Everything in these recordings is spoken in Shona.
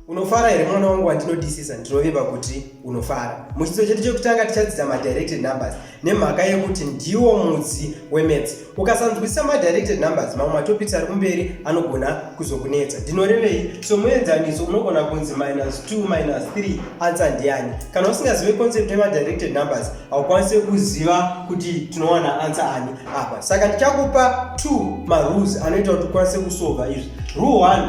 unofara here mwana wangu wandinodisisa ndinovimba kuti unofara muchidzidzo chedu chekutanga tichadzidza madirected numbers nemhaka yekuti ndiwo mudzi wemats ukasanzwisisa madirected numbers mamwe matopics ari kumberi anogona kuzokunetsa ndinorevei somuenzaniso unogona kunzi minus 2 minus 3 ansa ndiyani kana usingazive concept yemadirected numbers haukwanise kuziva kuti tinowana ansa ani apa saka ndichakupa two marules anoita kuti ukwanise kusova izvi rule one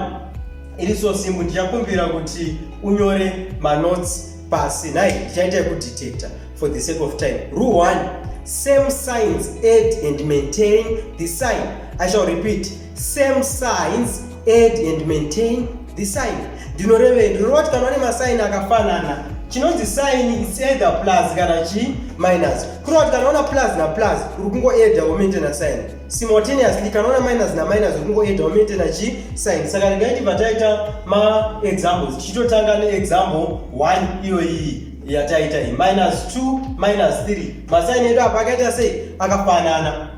iri so simple ndichakumbira kuti unyore manotes pasi nhai ndichaita yekudetecta for the sake of time rule one same signs add and maintain the sign i shall repeat same signs add and maintain the sign ndinorevei ndinoreva kuti kana vane masaini akafanana chinonzi sign its either plus kana chi minus kureva kuti kana vana plus na plus uri kungoedha womaintaina sign simultaneously kana vana minus na minus uri kungoedha womaintaina chi sign saka regai tibva taita maexamples tichitotanga neexample 1 iyoiyi yataita iyi minus 2 minus 3 masaini edu apa akaita sei akafanana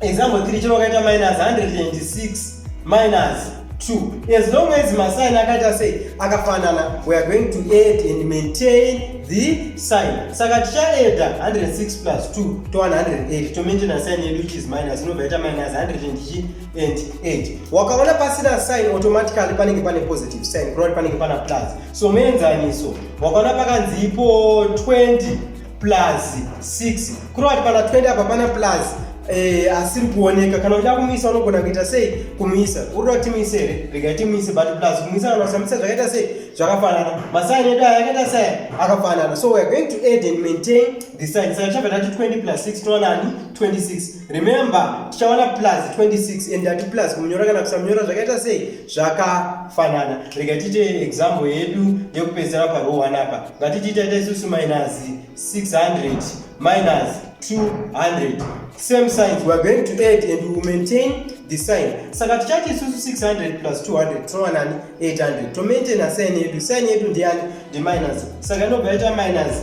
example 3 chero ukaita minus 186 minus 2 as long as masign akaita sei akafanana we are going to add and maintain the sign saka tichaeda 106 plus 2 to 108 tomaintaina sign yedu which is minus inobva ita minus 108 wakaona pasina sign automatically panenge pane positive sign kurati panenge pana plus so muenzaniso wakaona pakanzi ipo 20 plus 6 kurova kuti pana 20 apa pana plus Eh, asiri kuoneka kana uchida kumisa unogona kuita sei kumisa urikuda kuti timise here rega timise but plus kumisa kana usamisa zvakaita sei zvakafanana masaini edu aya akaita sei akafanana so weare going to add and maintain the sign saka chabva tati 20 plus 6 toonani 26 remember tichawana plus 26 and ati plus kumunyora kana kusamunyora zvakaita sei zvakafanana rega tiite example yedu yekupedzisira parow 1 apa ngatitiita ita isusu minus 600 minus 200 same signs weare going to add and we maintain the sign saka tichati isusu 600 plus 200 tinowanani 800 to maintain a sign yedu sign yedu ndiyani ndi minus saka inobva yaita minus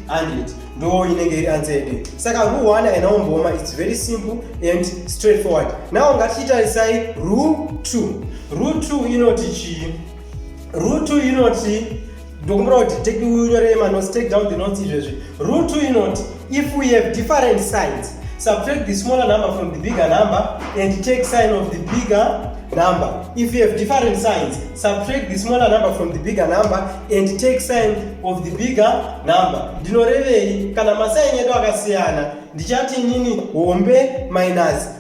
800 ndo inenge iri answer yedu saka rule 1 aina umboma its very simple and straight forward now ngatichitarisai rule 2 rule 2 inoti chii rule 2 inoti Ndokumbira kuti take unyore manotes, take down the notes izvezvi. Rule 2 inoti if we have different signs, subtract the smaller number from the bigger number and take sign of the bigger number. If you have different signs, subtract the smaller number from the bigger number and take sign of the bigger number. Ndinorevei kana masaini edu akasiyana ndichati inini hombe minus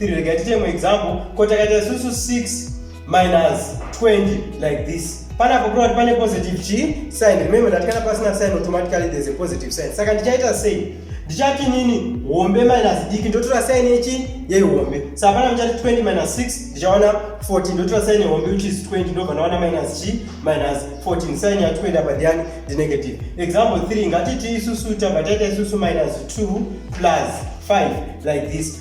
3 regai tiite imwe example ko takaita isusu 6 minus 20 like this panapo kuda kuti pane positive chi sign remember ndati kana pasina sign automatically there's a positive sign saka ndichaita sei ndichati nini hombe minus diki ndotora sign yechi yehombe saka pana ndichati 20 minus 6 ndichaona 14 ndotora sign yehombe which is 20 ndobva ndaona minus chi minus 14 sign ya 20 apa ndiani ndi negative example 3 ngatiti isusu tabva taita isusu minus 2 plus 5 like this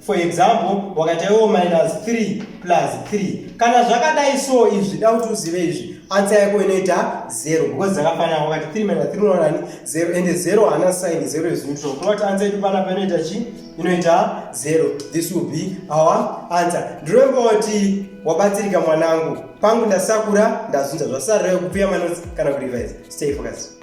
for example wakati iwo minus 3 plus 3 kana zvakadai so izvi da kuti uzive izvi ansa yako inoita 0 because dzakafanana wakati 3 minus 3 unoonani 0 and 0 hana sign 0 is neutral kuno kuti ansa yedu panapa inoita chi inoita 0 this will be our answer ndiremba kuti wabatsirika mwanangu pangu ndasakura ndazunza zvasarira yokupia manotes kana kurevise stay focused